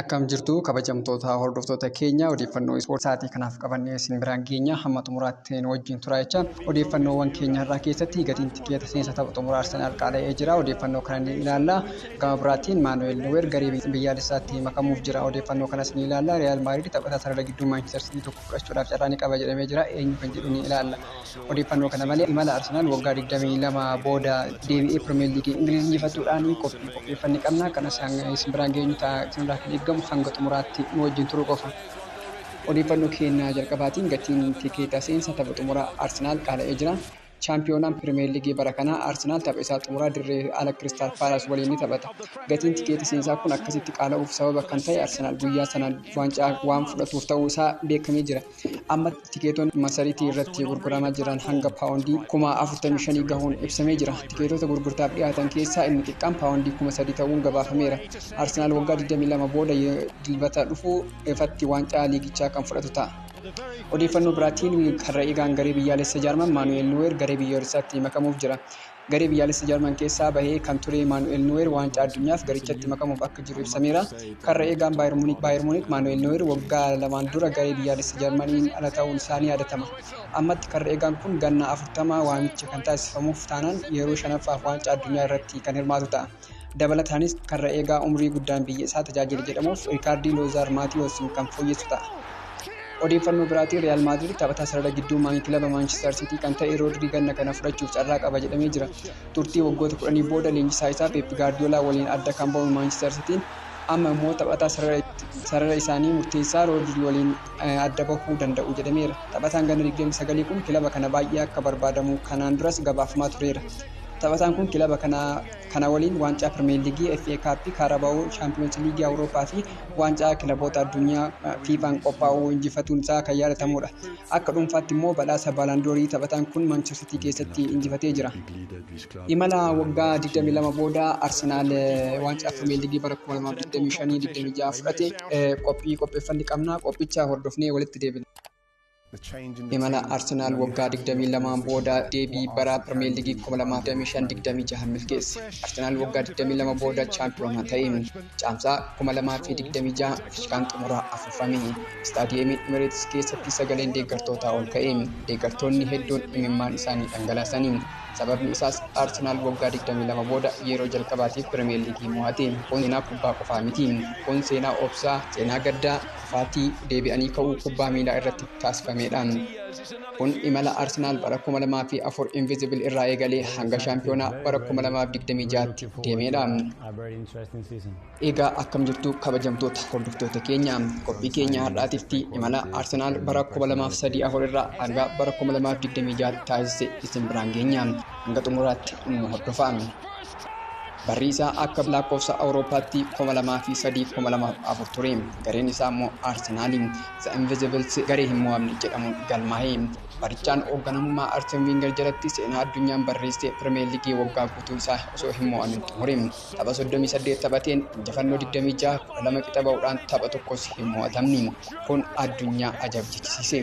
Akkam jirtu kabajamtoota hordoftoota keenya odeeffannoo ispoortii sa'aatii kanaaf qabannee isin biraan geenya hamma xumuraatti nu wajjin turaa jecha odeeffannoowwan keenya irraa keessatti gatiin tikeeta seensa tapha xumuraa Arsenaal qaala'ee jira odeeffannoo kana ni ilaalla gama biraatiin Maanuweel Nuweer garee biyyaalessaatti makamuuf jira odeeffannoo kanas ni ilaalla Riyaal Maadriid taphataa sarara gidduu Maanchister Siitii tokko fudhachuudhaaf carraa ni qaba jedhamee jira eenyu kan jedhu ni ilaalla. Odeeffannoo kana malee imala Arsenaal waggaa 22 booda deebi'ee Pirimeer Liigii Ingiliiz injifachuudhaan qophii qopheeffanne qabna. Kanas hanga isin biraan geenyu ta'a. Isinirraa kan eegamu hanga xumuraatti nu wajjin turuu qofa. Odeeffannoo keenya jalqabaatiin gatiin tikeeta seensa tapha xumuraa Arsenaal qaala'ee jira. Chaampiyoonaan Pirimeer Liigii bara kanaa Arsenaal tapha isaa xumuraa dirree ala Kiristaal Paalaas waliin ni taphata. Gatiin tikeeta seensaa kun akkasitti qaala'uuf sababa kan ta'e Arsenaal guyyaa sana waancaa waan fudhatuuf ta'uu isaa beekamee jira. Amma tikeetonni masariitii irratti gurguramaa jiran hanga paawondii kuma 45 gahuun ibsamee jira. Tikeetota gurgurtaaf dhiyaatan keessaa inni xiqqaan paawondii kuma 3 ta'uun gabaafameera. Arsenaal waggaa 22 booda Dilbata dhufu ifatti waancaa liigichaa kan fudhatu ta'a. Odeeffannoo biraatiin karra eegaan garee biyyaalessa Jaarman Maanu'eel Nuweer garee biyyoolessaatti makamuuf jira. Garee biyyaalessa Jarman keessaa bahee kan ture Maanu'eel Nooyer waancaa addunyaaf garichatti makamuuf akka jiru ibsameera. Karra eegaan Baayer Muunik Baayer Muunik Maanu'eel Nooyer waggaa lamaan dura garee biyyaalessa Jarmaniin ala ta'uun isaa ni yaadatama. Ammatti karra eegaan kun ganna 40 waamichi kan taasifamuuf taanaan yeroo shanaffaaf waancaa addunyaa irratti kan hirmaatu ta'a. Dabalataanis karra eegaa umrii guddaan biyya isaa tajaajile jedhamuuf Riikaardii Loozaar Maatiyoosiin kan fooyyessu ta'a. Odeeffannoo biraatiin Riyaal Maadrid taphataa sarara gidduu maayii kilaba Maanchistar Siitii kan ta'e Roodrii ganna kana fudhachuuf carraa qaba jedhamee jira. Turtii waggoota kudhanii booda leenjisaa isaa Peep Gaardiyoolaa waliin adda kan ba'u Maanchistar Siitiin amma immoo taphataa sarara isaanii murteessaa Roodrii waliin adda bahuu danda'u jedhameera. Taphataan ganna 29 kun kilaba kana baay'ee akka barbaadamu kanaan duras gabaafamaa tureera. Taphataan kun kilaba kana kana waliin waancaa Pirimeer Liigii, FA Kaappii, Kaarabaawoo, Shaampiyoonsi Liigii Awurooppaa fi waancaa kilaboota addunyaa FIFAn qophaa'u injifatuun isaa kan yaadatamuudha. Akka dhuunfaatti immoo badhaasa Baalaandoorii taphataan kun Maanchister Sitii keessatti injifatee jira. Imala waggaa 22 booda Arsenaal waancaa Pirimeer Liigii bara 2025-26 fudhate qophii qopheeffanne qabna. Qophicha hordofnee walitti deebina. Imala Arsenaal waggaa 22n booda deebii bara Pirimeer Liigii 2025-26 milkeesse. Arsenaal waggaa 22 booda chaampiyoonaa ta'e. Caamsaa 2026 fiikaan xumuraa afuufame. Istaadiyeemii Imireetis keessatti sagaleen deeggartootaa ol ka'e. Deeggartoonni hedduun imimmaan isaanii dhangalaasani. Sababni isaas Arsenaal waggaa 22 booda yeroo jalqabaatiif Pirimeer Liigii mo'ate. Kun seenaa kubbaa qofaa miti. Kun seenaa obsaa, seenaa gaddaa, Kufaatii deebi'anii ka'uu kubbaa miilaa irratti taasifamedha. Kun imala Arsenaal bara 2004 Invisible irraa eegalee hanga shaampiyoonaa bara 2026tti deemedha. Egaa akkam jirtu kabajamtoota hordoftoota keenya qophii keenya har'aatitti imala Arsenaal bara 2003-4 irraa hanga bara 2026tti taasise isin biraan geenya hanga xumuraatti nu hordofaa. Barri isaa akka lakkoofsa Awurooppaatti 2003, 2004 ture. Gareen isaa immoo Arsenaal The Invisibles garee hin mo'amne jedhamuun galmaa'e. Barichaan hoogganamummaa Arsen Winger jalatti seenaa addunyaan barreessee Pirimeer Liigii waggaa guutuu isaa osoo hin mo'amin xumure. Tapha 38 taphateen injifannoo 26, 12 qixa ba'uudhaan tapha tokkos hin mo'atamne. Kun addunyaa ajaa'ibsiise.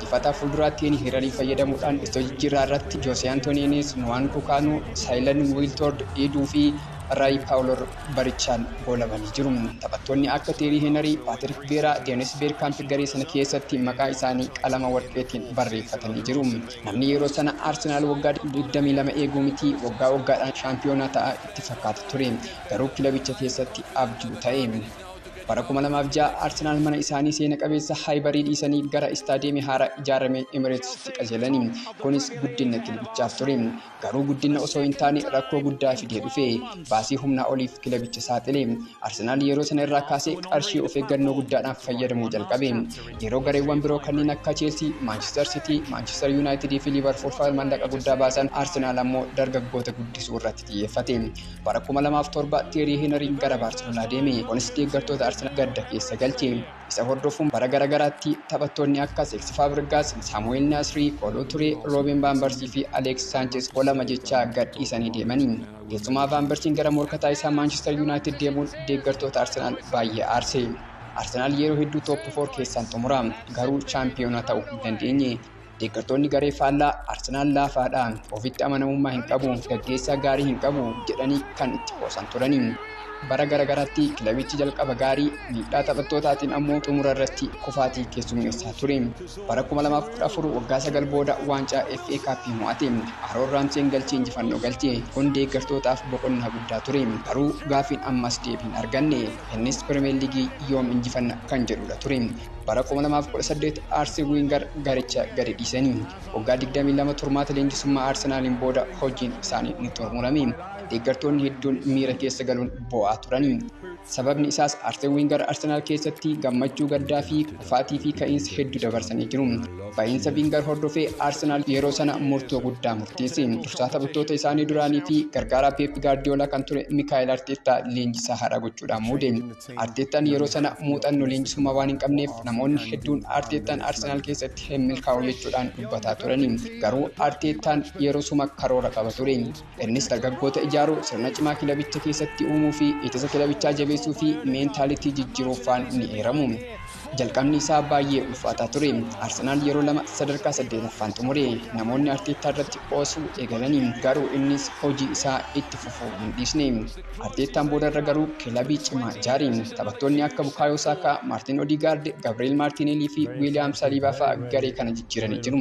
Difata fuulduraattiin Hirarii fayyadamuudhaan istoo jijjiirraa irratti Joosee Antooniinis, Nwaanku Kaanuu, Saayilan Wiiltoord Iiduu fi Raayi Paawuloor barichaan goolabanii jiru. Taphattoonni akka Teerii Heenarii, Paatirik Viyeeraa, Deenis Beerkaamp garee sana keessatti maqaa isaanii qalama warqeetiin barreeffatanii jiru. Namni yeroo sana Arsenaal waggaa 22 eeguu mitii waggaa waggaadhaan shaampiyoonaa ta'a itti fakkaata ture. Garuu kilabicha keessatti abjuu ta'e. Bara 2006 Arsenaal mana isaanii seena qabeessa Haayibarii dhiisanii gara istaadiyeemii haaraa ijaarame Emireetisitti qajeelani. Kunis guddinna kilabichaaf ture. Garuu guddinna osoo hin taane rakkoo guddaa fidee dhufe. Baasii humnaa oliif kilabicha saaxile. Arsenaal yeroo sana irraa kaasee qarshii of eeggannoo guddaadhaan fayyadamuu jalqabe. Yeroo gareewwan biroo kanneen akka Cheelsii, Maanchister Sitii, Maanchister Yuunaayitidii fi Liivarpuul fa'a mallaqa guddaa baasan Arsenaal ammoo dargaggoota guddisuu irratti xiyyeeffate. Bara 2007 Teerii Henariin gara Baarseloonaa deeme. Kunis deeggartoota Arsenaal gadda keessa galche. Isa hordofuun bara gara garaatti taphattoonni akka Seeksi Faabrigaas, Saamu'eel Naasrii, Kooloo Turee, Rooben Vaanbarsii fi Aleeks Saanchees goolama jechaa gad dhiisanii deemani. Keessumaa Vaanbarsiin gara morkataa isaa Maanchister Yuunaayitid deemuun deeggartoota Arsenaal baay'ee aarse. Arsenaal yeroo hedduu tooppi foor keessaan xumura. Garuu chaampiyoonaa ta'uu hin dandeenye. Deeggartoonni garee faallaa Arsenaal laafaadha, ofitti amanamummaa hin qabu, gaggeessaa gaarii hin qabu jedhanii kan itti qoosan turani. Bara garaagaraatti kilabichi jalqaba gaarii, miidhaa taphattootaatiin ammoo xumura irratti kufaatii keessummeessaa ture. Bara 2014 waggaa sagal booda waancaa FA Cup mo'ate. Aroon Raamseen galchii injifannoo galche. Kun deeggartootaaf boqonnaa guddaa ture. Garuu gaafiin ammas deebii hin arganne. Innis Pirimeer Liigii yoom injifanna kan jedhudha ture. Bara 2018 Aarsen Wiingar garicha gadi dhiisanii waggaa 22 turmaata leenjisummaa Arsenaaliin booda hojiin isaanii ni xumurame. Deeggartoonni hedduun miira keessa galuun boo'aa turanii. Sababni isaas Aarsen Wiingar Arsenaal keessatti gammachuu gaddaa fi kufaatii fi ka'iinsa hedduu dabarsanii jiru. Ba'iinsa Wiingar hordofee Arsenaal yeroo sana murtoo guddaa murteesse. Dursaa taphattoota isaanii duraanii fi gargaaraa Peep Gaardiyoolaa kan ture Mikaa'el Arteettaa leenjisaa haaraa gochuudhaan muude. Arteettaan yeroo sana muuxannoo leenjisummaa waan hin qabneef namoonni hedduun Arteettaan Arsenaal keessatti hin milkaa'u jechuudhaan dubbataa turani. Garuu Arteettaan yeroo suma karoora qaba ture. Innis dargaggoota ijaaruu, sirna cimaa kilabicha keessatti uumuu fi ittisa kilabichaa jabeessuu fi meentaalitii jijjiiruuf faan ni eeramu. Jalqabni isaa baay'ee ulfaataa ture. Arsenaal yeroo lama sadarkaa saddeetaffaan xumure. Namoonni Arteettaa irratti qoosuu eegalani. Garuu innis hojii isaa itti fufuu hin dhiisne. Arteettaan boodarra garuu kilabii cimaa ijaariin taphattoonni akka Bukaayoo Saakaa, Maartin Odigaard, Gabri'eel Maartineelii fi Wiiliyaam Saliibaa fa'a garee kana jijjiiranii jiru.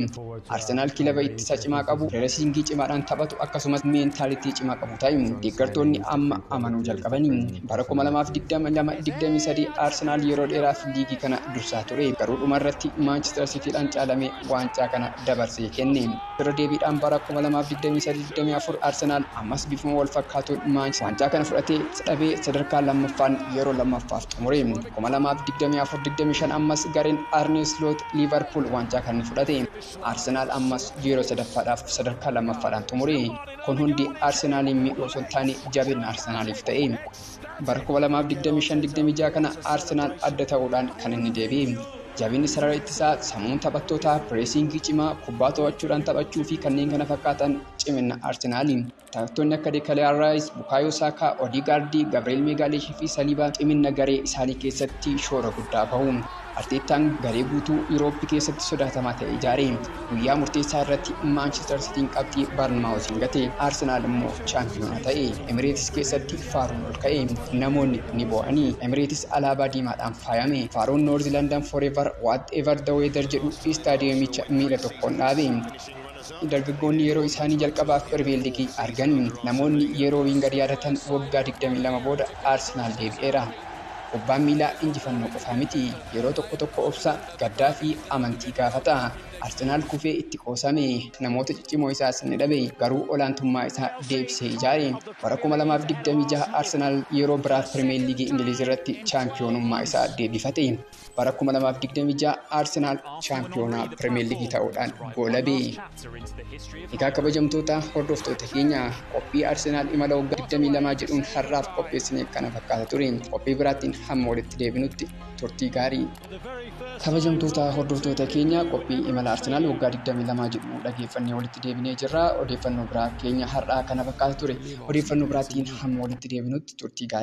Arsenaal kilaba ittisa cimaa qabu, pireesiingii cimaadhaan taphatu akkasumas meentaalitii cimaa qabu ta'e deeggartoonni amma amanuu jalqabani. Bara 2022, 23 Arsenaal yeroo dheeraaf liigii kana dursaa ture. Garuu dhumarratti Maanchister Siitiidhaan caalamee waancaa kana dabarsee kenne. Irra deebiidhaan bara 2023-24 Arsenaal ammas bifuma wal fakkaatuun Maanchester waancaa kana fudhatee dhabee sadarkaa lammaffaan yeroo lammaffaaf xumure. 2024-25 ammas gareen Arne Slot Liivarpuul waancaa kana ni fudhate. Arsenaal ammas yeroo sadaffaadhaaf sadarkaa lammaffaadhaan xumure. Kun hundi Arsenaaliin miidhuu osoo hin taane jabinna Arsenaaliif ta'e. Bara 2025 26 kana Arsenaal adda ta'uudhaan kan inni deebi'e. Jabinni sarara ittisaa, sammuun taphattootaa, pireesiingii cimaa, kubbaa to'achuudhaan taphachuu fi kanneen kana fakkaatan cimina Arsenaali. Taphattoonni akka Dekaliyaa Raayis, Bukaayoo Saakaa, Odigaardii, Gabri'eel Meegaaliishii fi Saliibaa cimina garee isaanii keessatti shoora guddaa bahu. Arteettaan garee guutuu Yuurooppi keessatti sodaatamaa ta'e ijaare. Guyyaa murteessaa irratti Maanchister Sitiin qabxii Barnmaawuziin gate. Arsenaal immoo chaampiyoonaa ta'e. Emireetis keessatti faaruun ol ka'e. Namoonni ni boo'ani. Emireetis alaabaa diimaadhaan faayame. Faaruun Noorzi Landan Forever, Whatever the Weather jedhu istaadiyeemicha miila tokkoon dhaabe. Dargaggoonni yeroo isaanii jalqabaaf Pirimeer Liigii argan, namoonni yeroo Wiingar yaadatan waggaa 22 booda Arsenaal deebi'eera. Kubbaan miilaa injifannoo qofaa miti. Yeroo tokko tokko obsa, gaddaa fi amantii gaafata. Arsenaal kufee itti qoosame, namoota ciccimoo isaas ni dhabe, garuu olaantummaa isaa deebisee ijaare. Bara 2026 Arsenaal yeroo biraaf Pirimeer Liigii Ingiliiz irratti chaampiyoonummaa isaa deebifate. Bara 2026 Arsenaal shaampiyoonaa Pirimeer Liigii ta'uudhaan goolabe. Egaa kabajamtoota hordoftoota keenya qophii Arsenaal imala waggaa 22 jedhuun har'aaf qopheessine kana fakkaata ture. Qophii biraattiin hamma walitti deebinutti turtii gaarii. Kabajamtoota hordoftoota keenya qophii imala Arsenaal waggaa 22 jedhu dhageeffannee walitti deebinee jirra. Odeeffannoo biraa keenya har'aa kana fakkaata ture. Odeeffannoo biraattiin hamma walitti deebinutti turtii gaarii.